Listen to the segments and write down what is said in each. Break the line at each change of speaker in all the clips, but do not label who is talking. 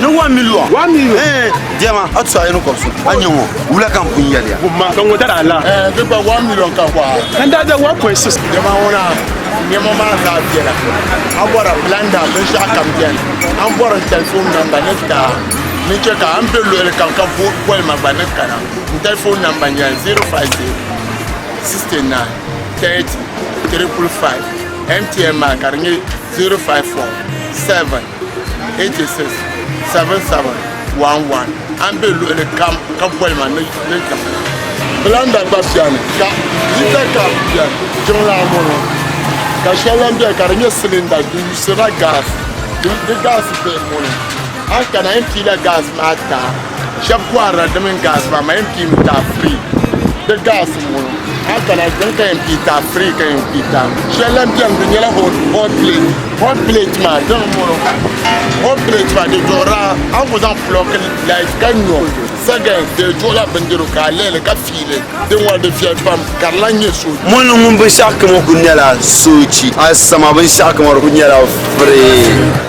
ni
one million one million eh
jema a
tsa yin ko su an yin wo wula kan kun ya ya ma kan wo dara la
eh bi ba one million
kan kwa kan da da 1.6
jema wona
nyɛma maa zaa biɛla a bɔra blanda binshɛɣu kam biɛni a ni bɔri n tɛlifon namba ni ka ni chɛ ka a ni bɛ luɣili kam ka boli ma gba ni kana n tɛlifon namba nyɛ 050 69 30 triple 5 mtn maa ka di nyɛ 054 7 877711 a ni be luɣili kam ka boli ma ni jiŋli. Blanda gba beni ka hita kapu beni. Jiŋlaa ŋɔŋɔ ka shɛli lan beni ka di nyɛ silinda di yuusirila gaasi. Di gaasi bihi ŋɔŋɔ a ni kana a yɛn piila gaasi maa taai. Shɛb kɔhirila di mini gaasi maa ma yɛn pii mi taai free di gaasi n bɔŋɔ a kana dini ka yɛn pii taai free ka yɛn pii taai shɛli lan bɛni di nyɛla hot hot plate hot plate maa dini n bɔŋɔ hot plate maa di duɣira a ni ku zaŋ plug light ka nyo seconds di duɣila bindirigu ka a lihili ka fiili din ŋɔ di viɛli pam ka di lan nyɛ so Mɔni ŋun binshɛɣu
kamo ku nyɛla soochi, asama binshɛɣu kamo di ku nyɛla free.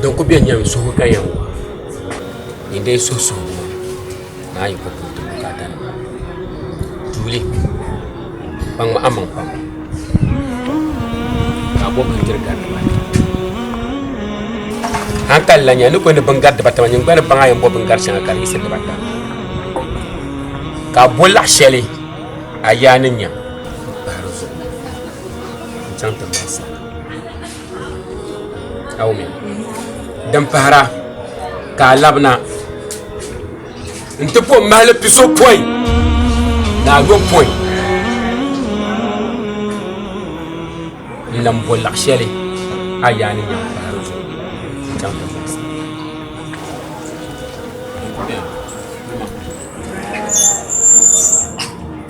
Din ku beni nyam suhu ka yɛn waa, yi dee suhi suhi buŋɔ ni a yi ku puhi ti bukaatanima, tuuli ka ŋma a maŋ pam ka a bɔbi ka tiri gari dibata. A ni kanli la nya, n ni ku yɛli ni biŋ gari dibata maa, nyiŋgbani baŋ a yɛn bɔbi biŋ gari shɛŋa ka di yiɣisi dibata. Ka a bo laɣ shɛli a yaa ni nyam m-pahi di zuɣu n-chaŋ ti baɣisi a. Awumi. Din pahira ka a labina nti pɔ mahili piso pɔi ni a yo pɔi n lan bɔ laɣ shɛli a yaa ni nyam pahiri zuɣu chaŋ ti voice.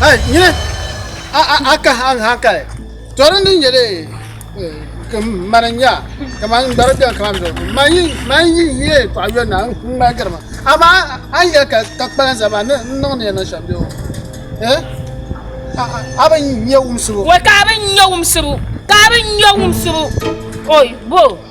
Hey, nyini a a a ka han han kali torin din nyɛ de ka mani nya ka man gbara biɛn ka man do man yi man yi yi paɣa yɔn na n ŋmali gari ma ama an yɛ ka ka kpalan zama ni n niŋ ni yɛn niŋ shɛm bɛ o eh a a a bi nyɛ wumsibu Wai ka abin ya
wumsibu, ka abin ya wumsibu. Oi, bo.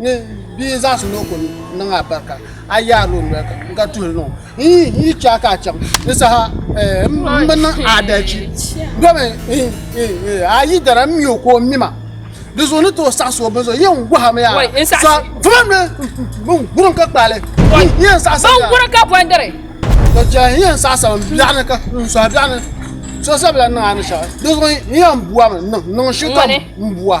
Ni bia n zaŋsim ni o ku niŋ a barika a yaarila o noli ka n ka tuhili niŋ n yi chɛ a ka a chaŋ ni saha n bi niŋ adalci domi a yi dara n mi o ka o mi ma di zuɣu ni tooi saɣisi o bini zuɣu yɛn gɔhami yaa tuma mi bin gurin ka kpaali yɛn saɣisa bin gurin ka bɔndiri
to chɛli
yɛn saɣisa n biɛɣu ni ka n sɔhi biɛɣu ni so sabila niŋ a ni shɛli di zuɣu yɛn buwami niŋ shikam n buwa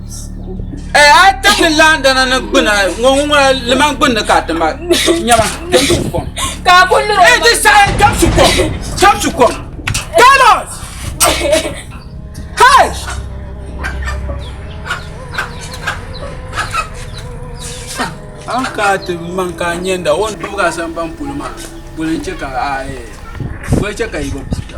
Eh, a tam ni laandana ni gbina ŋɔ ŋɔ liman gbinni ka ti ma nyɛma tam su kom. Ka a kuli lura. Eh,
ti saɣi tam
su kom, tam su kom. Carlos! Hey! An ka ti man ka nyɛnda o ni bibga sambani polo maa, boli n-chɛ ka a, eh, boli chɛ ka yi bi buta.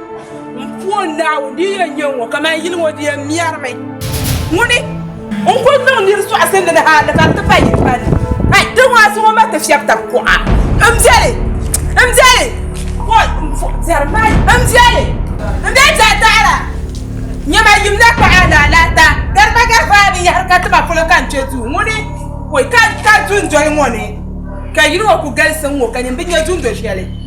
M puo Naawuni di yɛn nyɛ ŋɔ kaman yili ŋɔ di yɛn mɛrimi. Ŋuni n kul niŋ nir sɔɣisi ni di hali ka di ti pa yili palli. Ai! Di ŋɔ a suŋ o ma ti fiɛbi tab kuɣa. M biɛli! M biɛli! Oi! M puo biɛri maa yi. M biɛli! M be biɛri taɣira. Nya ma yim na kpuɣi alaalaata. Gari ma gari paai binyɛhiri ka ti ma polo ka n kpe duu. Ŋuni? Oi! Ka n kari dundoli ŋɔ ni ka yili ŋɔ kul galisi n ŋɔ ka nyin bi nya dundo shɛli.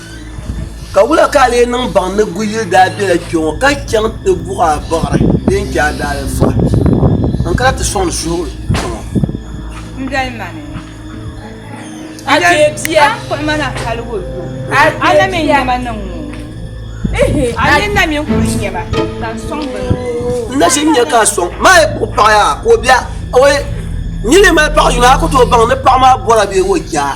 Ka wula ka a lee niŋ baŋ ni Guyili daa bela kpe ŋɔ ka chaŋ ti buɣi a bɔɣiri bee n-chɛ a daalifa n kana ti sɔŋdi suhigu kpe ŋɔ?
M doli ma ni. A chɛ
bia. A kpuɣi ma
na hali o yo. A na mi
n-nya ma niŋ ŋɔ.
Ihi! A ni na mi n-kuli nya ma ka n sɔŋ bini ŋɔ. N na ʒi n-nya
ka a sɔŋ ma a yi kpuɣi paɣa yaa ka o bia. Awɔi! N ni lee mali paɣ yino a ku tooi baŋ ni paɣ maa bɔra bee o ja.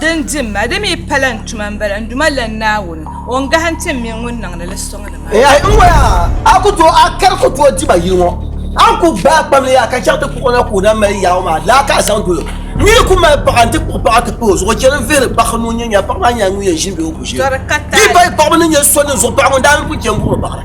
Din di m ma, di mi pala n tuma m-bala, n Duuma lan Naawuni, O ni gahim ti m mini ŋun niŋdi li suŋ ni maa. Yahi! N waya!
A ku tooi a kari ku tooi di ma yili ŋɔ. A ni ku gbaai kpam leei a ka chaŋ ti kpuɣi o na ka o daa mali yaɣu maa laa ka a zaŋ dol o. N ni yi ku mali paɣa nti kpuɣi paɣa ti pah o zuɣu chani n-vihiri paɣa ni o nya nya paɣa maa nyɛla ŋun yɛn ʒini be o ku ʒiya. Di bahi paɣaba ni nya so ni zuɣu paɣa ŋun daa ni ku chani buɣiri baɣira.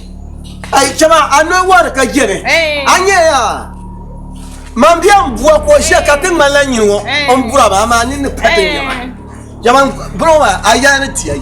Ayi chama
a noli wari ka jɛni a nyɛya man bia n bua ka o ʒiya ka ti ŋmanila nyini ŋɔ n bura ba amaa ni ni pa ti nyɛma jama bɔŋɔ maa a yaa ni tiya yi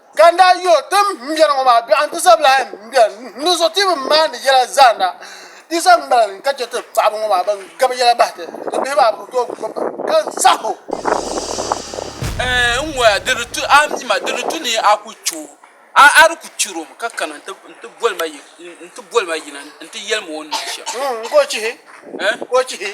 Ka n daa yo tim m biɛri ŋɔ maa biɛɣu nti zabila ayi m-biɛri n ni zo ti bi maandi yɛla zaanda Yisa m-bala n ka chɛ ti paɣiba ŋɔ maa bɛn gabi yɛla bahi ti, ti bihi maa bɛ bi tooi gbubi ba ka zah o.
N ŋɔya, di ni tu a mi ma, di ni tu ni a ku chɛ o, a di ku chɛr o mi ka kana nti boli ma yina nti yɛli ma o ni niŋ shɛm. Ka o chihi?
Ka o chihi?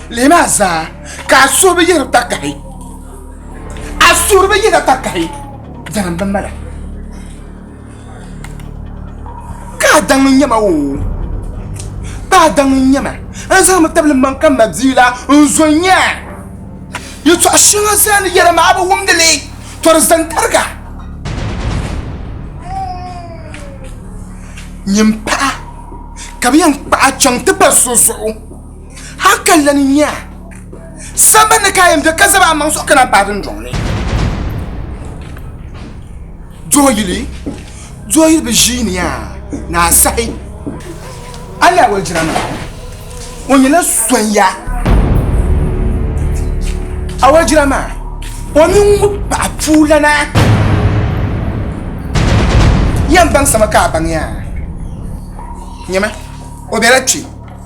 Leei maa zaa ka a suhu bi yiɣiri takahi a suhu bi yiɣiri takahi dalim bi mala ka a daŋ n nyɛma o ka a daŋ n nyɛma n zaŋmi tabili maŋ ka ma bia la n zo n nyɛ yɛtɔɣa shɛŋa zaa ni yɛra maa bi wumdi li tɔri zaŋ tariga nyini paɣa ka bi yɛn kpaɣa chaŋ ti pali so zuɣu Haka lan nya samba ni ka yɛn bɛ ka zaba amaŋ suɣu kana paati ndɔŋli. Dooyili dooyili bi ʒiini yaa ni a sahi. A ni a wali jira maa o nyɛla sonya a wali jira maa o mini ŋun paɣa puulana yɛn baŋ sama ka a baŋ yaa nyɛma o bɛla kpɛ.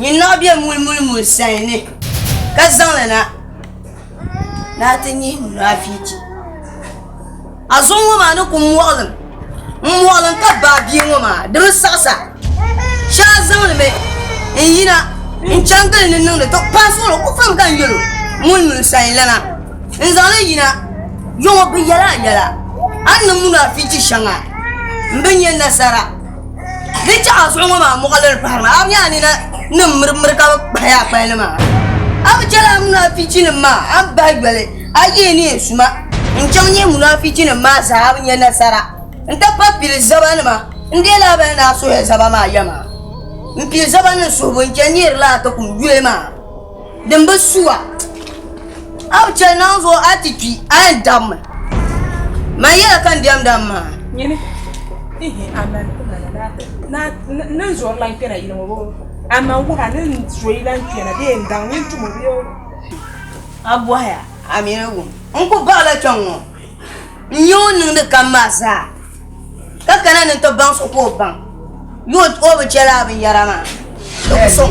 Nyin naɣ bɛ mulimuli muli sayin ni, ka zaŋ li na ni a ti nyih munaafichi. A zuɣu ŋɔ maa ni ku muɣilim, m-muɣilim ka baai bia ŋɔ maa, di bi saɣis a. Shee a zaŋlimi n-yina n-chaŋ gili ni niŋdi tɔ, paɣ so ŋɔ ku pam ka n yɛl o mulimuli sayinlana n-zaŋ li yina. Yo ŋɔ bi yɛl a yɛla, a ni niŋ munaafichi shɛŋa m-bi nya nasara. Di chɛɣa zuɣu ŋɔ maa muɣiliri pahiri maa a bi nya a nina ni miri miri ka bi kpahi a kpali ni maa a bi chɛli a munaafichi nim maa a ni bahi yoli a yihi ni yɛn suma n chaŋ yihi munaafichi nim maa zaa a bi nya nasara n ti pa pili zaba nima n deei la a bani daa suhi zaba maa yɛma n pili zaba nim suhibu n chani n yihiri la a ti kum yuli maa. Din bi su a. A bi chɛ ninvuɣu a ti kpi, a yɛn dabimi. Man yɛla ka n diɛmda m maŋa. Nyini,
ihi a man ti ma na daa ti ni n zɔri lan kpɛna yili ŋɔ bee o? A man wuhi a ni n zooi lan kpɛna bee n daŋ nyin tum o bee o? A
bɔhi a, a mi ni wum. N ku baɣila kpɛŋ ŋɔ. N-nyɛ o niŋdi kam maa zaa, ka kana ni n-ti baŋ so ka o baŋ, yo o bi chɛ lala binyɛra maa,
di ku sɔŋ.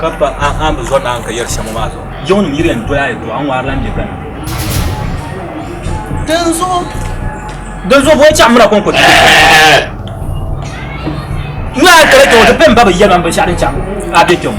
ka pa an bi zɔri naan ka yɛri shɛm maa zuɣu jiŋ nim yiri yɛn doya ayi to an ŋmaari lan bɛ gana din zuɣu din zuɣu bɔn chaɣa mura kɔnkɔ n yaa kala kɛŋɔ ti pɛ n ba bi yɛli man binshɛɣu din chaɣa a bɛ kɛŋɔ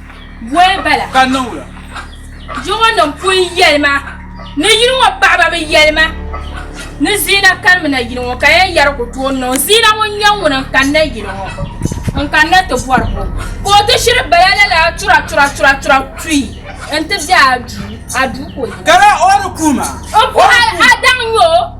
Bɔy
bala ka niŋla. Jiŋɔ
nim pun yɛli ma ni yili ŋɔ paɣaba mi yɛli ma ni Ziina kani mi na yili ŋɔ ka yɛn yɛri ku tooi niŋ Ziina ŋun nyɛ ŋuni n kani na yili ŋɔ n kani na ti bɔri o ka o ti shiri bala la lala tura tura tura tura tuyi n ti bɛ a duu a duu ka o yina. Kara o ni kuhi
ma. N kuhi a
daŋ nyɛ o.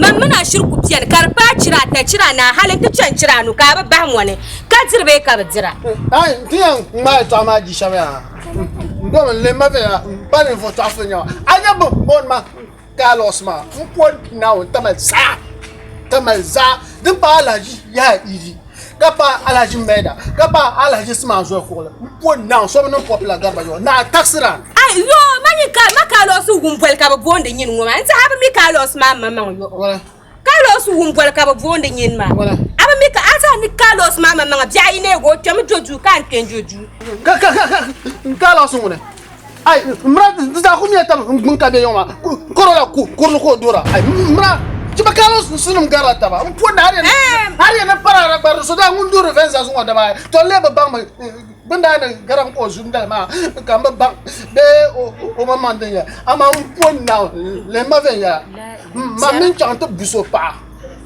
Mam mini a shiri ku piɛni ka di paai chira ata, chira anahi hali nti chani chira anu ka a bi bahi mɔni ka diri bee ka bi dira. A yi ti yɛn
ŋmaai yɛtɔɣa maa di shɛm yaa, n domi n leei ma viɛnyɛla, m ba ninvuɣ tɔɣ so n-nyɛ ma. A nya bɛ ni booni ma dialogues maa, m pooi Naawuni tamali zaa, tamali zaa din paai alahichi yaha idi. ka pa Alhaji Maida ka pa Alhaji Siman Zɔli Kuɣili m-po naŋ so bi niŋ Popular Garba Yɔɔ naa taɣisira. Ai yɔɔ ma
nyin ka ma Carlos Wumboli ka bɛ boondi nyin ŋɔ maa n-tiɛhi a bi mi Carlos maa maŋmaŋ yɔɔ Carlos
Wumboli
ka bɛ boondi nyin maa a bi mi ka a
tiɛhi
ni Carlos maa maŋmaŋa biɛɣu yi neeg o kpɛmi jo duu ka a ni kpe n-jo duu.
Carlos ŋuni. Ai mra di zaa ku miya tab n gbun ka be yɔŋ maa kɔrɔ la ku kurili ka o dora. Ai mra ti ba kaalo sunsunim garila taba n puhi na har yɛn ni parara gba di so daa ŋun duhiri vɛnza zuŋɔ dama ai to n lee bi baŋ mi bin daa ni garim ka o zu dali maa ka n bi baŋ bee o man maŋ din yɛli amaa n puhi na lihima vɛnyɛla mam min chaŋ ti bu so paɣa.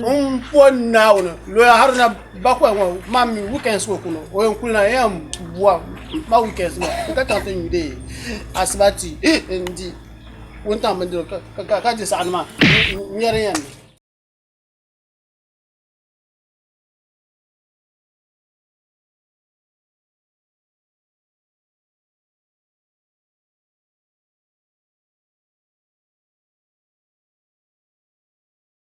Ŋun pɔ Naawuni loya hali na bakwai ŋɔ maa mi weekends ŋɔ kuno o yɛn kuli na yɛn bua ma weekends ŋɔ n ka chaŋ ti nyu dee asiba ti n di wuntaŋ bindirigu ka di saɣani maa n yɛri yɛn mi.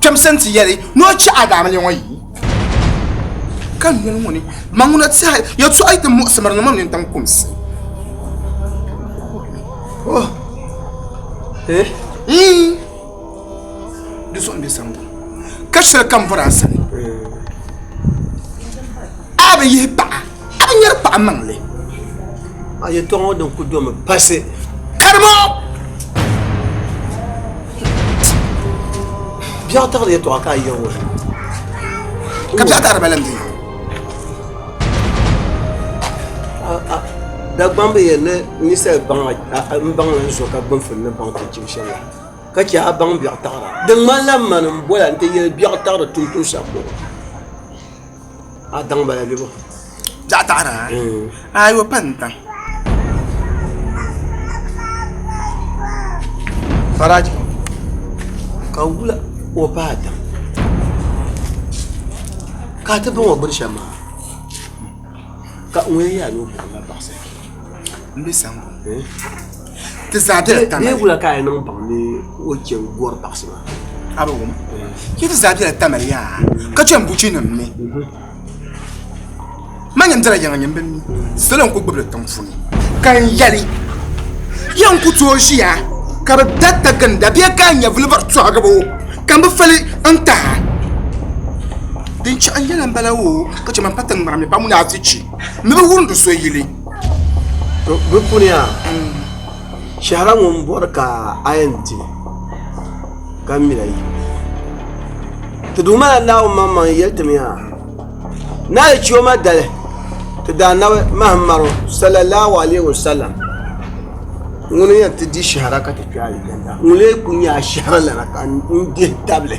kpɛmsi nti yɛli ni o chɛ Adaamili ŋɔ yi ka noli ŋɔ ni maŋuna tiɛhi yɛtɔɣa yi ti muɣisimiri ni mɔni tiŋ kumsi. Oh. Eh? Mm. Di zuɣu m-be sani ka shɛli kam bɔra a sani. Eh. A bi yihi paɣa. a nyɛri paɣa maŋli a
yɛtɔɣa ŋɔ din ku domi pasi karimo biɛɣu taɣiri yɛtɔɣa ka a yɛn woli
ka biɛɣu taɣiri balim di
dagbamb yɛn ni ninsal baŋa n baŋ n zo ka gbunfuni ni baŋ ti chim shɛm la ka chɛ a baŋ biɛɣu taɣira di ŋmanila mani n bola n ti yɛli biɛɣu taɣiri tuuntuun shɛm bɔŋɔ a daŋ bala bɛ bɔ jaɣa
taɣara ayo pa n daŋ
faraji ka wula o pa a daŋ ka ti baŋ o biri shɛm maa ka ŋun yɛ yaa ni o buɣum la baɣasiri n bɛ
sango ti zaa bɛla tana ni wula ka a niŋ baŋ
ni o chɛ gɔri baɣasi maa a bi wum
ki ti zaa bɛla tana yaa ka chɛ n buchi nim ni ma nyɛm dala yaŋa nyɛm bi mi salo n ku gbubili tiŋ funi ka n yɛli yɛn ku tooi ʒiya ka bi da ta ginda bɛ ka n nyɛ vilibari tɔhigibo ka n bi fali n taha din chɛɣu yɛla n bala o ka chɛ man pa tiŋ ŋmara mi pam ni a ti chɛ ni bi wumdi so yili To
bɛ puni yaa shɛhira ŋun bɔri ka a yɛn di ka mila yi ti duuma la naawuni maŋ maŋ yɛli ti mi yaa na yi chiyo ma dali ti daa nabi mahim maro sallallahu alaihi wa sallam ŋuni yɛn ti di shɛhira ka ti kpɛ a yidanda ŋuni lee kuli nyɛ a shɛhira lana ka n dihi tabili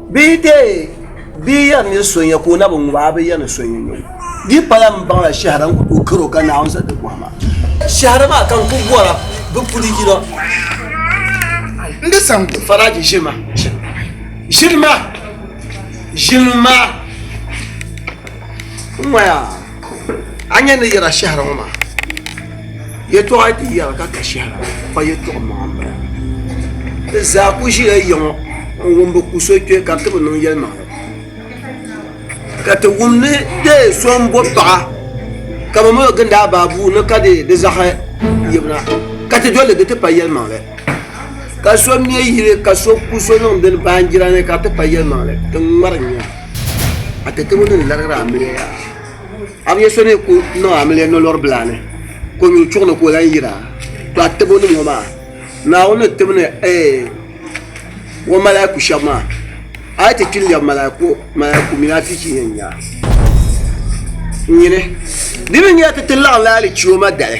Bɛ yi deei bɛ yi yɛri ni so nya ka o na bi ŋub a, a bi yɛri ni so nya nya o. Di pala m baŋ la shɛhira n-ku tooi kar o ka Naawuni zaŋ di bɔhi ma. Shɛhira maa ka n ku bɔr a bɛ puli yino. N di
saŋ di. Faraji ʒiri ma,
ʒiri ma, ʒiri ma! N ŋɔya! a nya ni yɛra shɛhira ŋɔ maa yɛtɔɣa di yɛra ka ka shɛhira pa yɛtɔɣa maŋa m-bala di zaa ku ʒila ya ŋɔ n-wum bi ku so kpe ka ti bi niŋ yɛlimaŋli ka ti wum ni dee so m-bo paɣa ka bɛ mali o gindi a baa bua ni ka dee di zaɣi yibina ka ti doli di ti pa yɛlimaŋli ka so me yili ka so ku so niŋ dini baanjira ni ka ti pa yɛlimaŋli ti ŋmari a ti tabo din larigiri amiliya yaha a bi yɛ so ni ku niŋ amiliya nolori bila ni ka o nyuli chuɣu ni ka o lahi yira to a tabo nim ŋɔ maa naawuni ni tibini ee o malaiku shɛba maa a yi ti kpi n lɛbi malaiku malaiku mini afiichi yɛn nya nyini di ni nyɛ ti ti laɣim la alichioma dali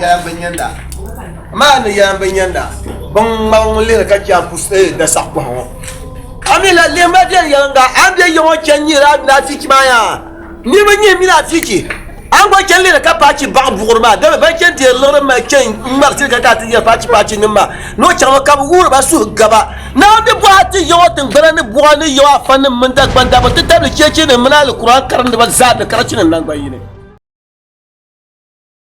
yaayam bi nyandi a. Amaa a ni yaayam bi nyandi a, bin ŋmabi ŋun lihiri ka chɛ a pus eh, da saɣi pɔhim ŋɔ. A mi la lihima viɛl yɛliŋga, a ni bɛ ya ŋɔ chani nyihiri a mini a fiichi maa yaa? Niriba nyihi mini a fiichi, a ni gba chani lihiri ka paachi baɣi buɣiri maa. Dama ban chani deeri liɣiri mali chani ŋmari tiri ka kana ti nyari paachi paachi nim maa. Ni o chaŋ mi ka bi wuhiri ba suhu gaba. Naawuni ni bɔhi a ti ya ŋɔ tiŋgbana ni buɣa ni ya ŋɔ afa nim mini Dagban dabba n ti tabili cheechi nim mini Alikuran karindiba zaa ni karachi nim nangbanyini.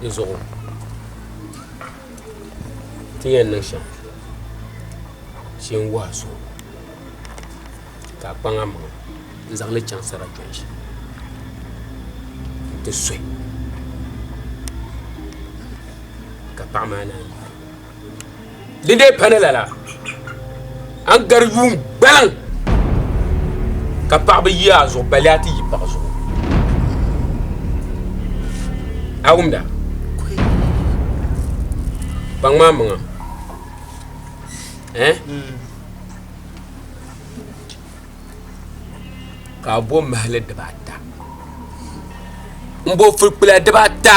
di zuɣu ti yɛn niŋ shɛm shee n wɔhu so ka a kpaŋ a maŋa n zaŋ li chaŋ sarachɔn shee n ti sɔyi ka paɣa maa naan yi Di dee pani lala, a ni gari yuun gbaliŋ ka paɣa bi yi a zuɣu bali a ti yi paɣa zuɣu. A wumda? Kpaŋ maa maŋa. Eh? Mm. ka a bo mahili dibaata n bo fulikpula dibaata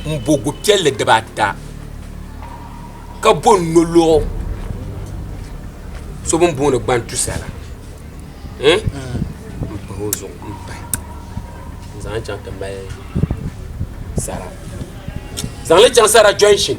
n bo gu piɛlli dibaata ka bo n nolɔɣu so bini booni gbantusa la n pahi o zuɣu n pahi n zaŋ chaŋ ti mali sara zaŋli chaŋ sara jɔnshin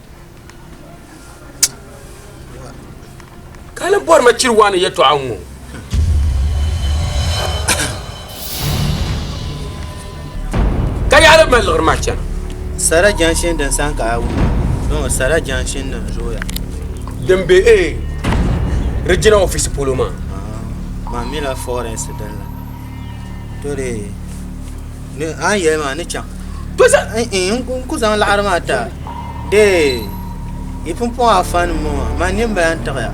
ka ni bɔri ma chiri waa ni yɛtɔɣa ŋɔ ka yaɣali ma liɣiri maa chana sara
jɛnshin din san ka a wuna dɔn sara jɛnshin din zooya din be e
eh, regina office polo maa ah, maa
mila forest din la to dee ni a ni yɛli maa ni chaŋ to n
ku zaŋ laɣari
maa ta dee yi pumpɔŋ afa ni ŋɔ maa man nin bala n tiɣiya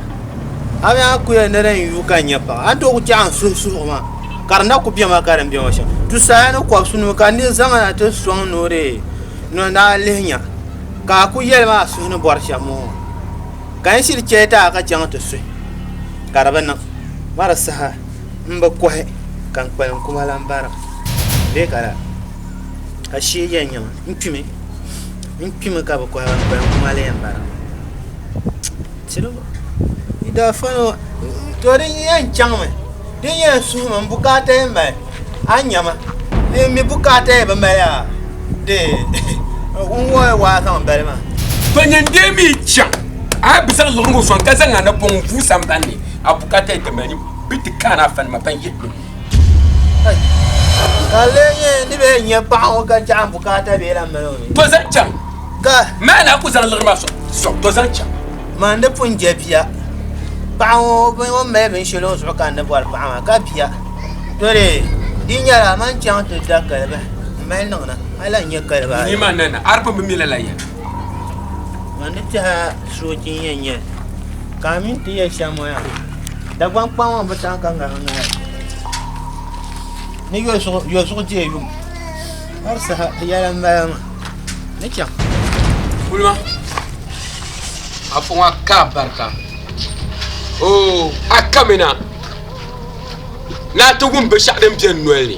a mi a kuya ni din yu ka n nyɛ paɣa a ni tooi ku tiɛɣa n suhu suhu maa ka di na ku bɛ ma ka din bɛ ŋɔ shɛm tu saya ni kɔbisi nima ka ni zaŋ na ti sɔŋ ni o dee ni o daa lihi nya ka a ku yɛli maa suhu ni bɔri shɛm ŋɔ ka n shiri chɛli ti a ka chaŋ ti suhi ka di bi niŋ ma di saha n bi kɔhi ka n kpalim kuma lan bara bee ka la ashee yɛn nya ma n kpimi n kpimi ka bi kɔhi ka n kpalim kuma la yɛn bara tiribu yi daa fani wa to din yɛn chaŋ mi din yɛn suhi mi n bukaata yɛn mali a nya ma ni mi bukaata yɛn bi mali a de n wɔɔi waa zaŋ bali ma to nyin dee
mi chaŋ a bi zaŋ luɣiligu sɔŋ ka zaŋ a napɔŋ vuu sambani a bukaata yɛn ti mali bɛ ti kaani afa nima ban yihi bɛ nuu.
Ka lee nyɛ ni bɛ nya paɣa ŋɔ ka chaɣi bukaata bee la mali o ni. To zaŋ chaŋ.
Ka. Maa
na ku zaŋ liɣiri
maa sɔŋ to zaŋ chaŋ. Man di pun je
bia. Paɣa ŋɔ bin o mali binshɛli o zuɣu ka n ni bɔri paɣa maa ka bia. To lee di nyɛla man chaŋ ti da kaliba m mali niŋna hali n nyɛ kaliba ayi. Ni maa nana aripun bi
mi lala yɛli.
Ŋa ni tɛha soochi n yɛn nyɛ ka a mini ti yɛ shɛm ŋɔ ya Dagbaŋ kpaŋ ŋɔ bi chaŋ ka ŋarim ŋahi ni yɔzuɣu deei yum hali saha di yɛla n bala maa ni chaŋ kulima
a fɔŋ a ka barika oo a kamina ni a ti wum binshɛɣu din bɛ n noli ni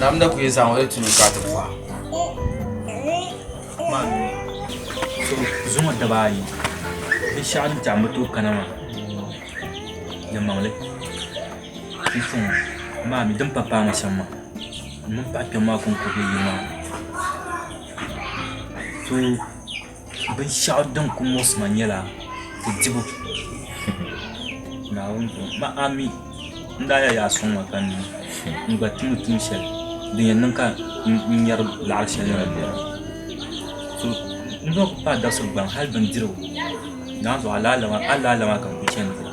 Nam da kuyi zaŋ o yi tunu ka ti pɔha. So zuŋɔ daba ayi bi shɛɣu ni tɛɣu mi tooi kana maa di maŋli n tuŋ maa mi din pa paai ma shɛm maa m mini paɣa kpɛm maa konko be yili maa so binshɛɣu din ku muɣisi ma nyɛla ti dibu Naawuni zuŋɔ ma a mi n daa yɛli yaa sɔŋ ma ka n niŋ n gba tumi tuun shɛli din yɛn niŋ ka n nyari laɣiri shɛli maa bela so n zaŋ kuli paai dabisi gbaŋ hali bindirigu naanzuhi alaala maa ka n kuli chaŋ dira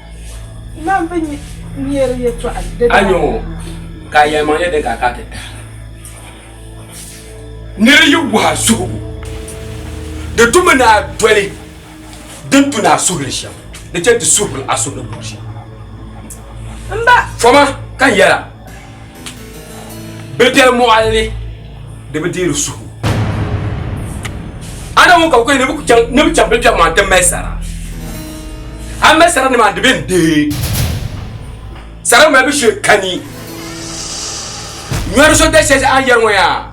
Nan bi nyeri yɛtɔɣa di A nyɛ o
ka a yɛlimaŋ nyɛ din ka ka ti tahi la. Nir yi bɔha suhibu, di tumi ni a doli din tu ni a suhili shɛm, di chɛ nti suhiri a suhili buɣ shɛm.
Fɔma
ka n yɛl a. Bɛ biɛri mɔɣili ni di bi deeri suhu. A na ŋun ka kuli ni bɛ chaŋ ni bɛ chaŋ bɛ biɛri maa ti mali sara. A mali sara ni maa di bɛn deei. Sara malibu shee kani. Nyɔri so da shɛli a yɛri ŋɔ yaa.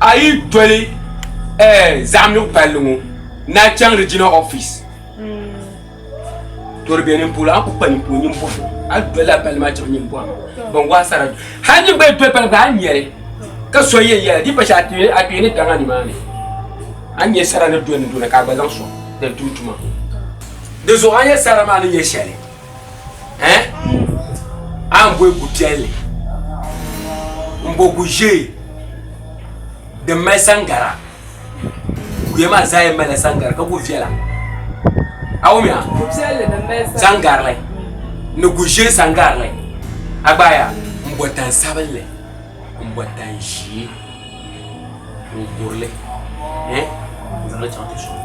A yi doli zaɣimigu palli ŋɔ ni a chaŋ regional office to di be nini polo a kuli kpa ninkpara nini bɔhi a doli la palli maa chaŋ nini bɔhim ban gɔhi sara doli hali nini gba yi doli palli maa a ni nyari ka so yɛn yɛli di yi pa shɛli a kpee ni daŋ a ni maa ni a ni nya sara ni doli ni doli na ka a gba zaŋ sɔŋ din tum tuma di zuɣu a ni nya sara maa ni nyɛ shɛli. eh a ni boi gu piɛlli n bo gu ʒee din mali sangara guya maa zaa yɛn malila sangara ka kuli viɛla a wum ya
sangarili
ni gu ʒee sangarili a gbaaya n bo tan sabinli n bo tan ʒee n kurili eh n zaŋli chaŋ ti soli.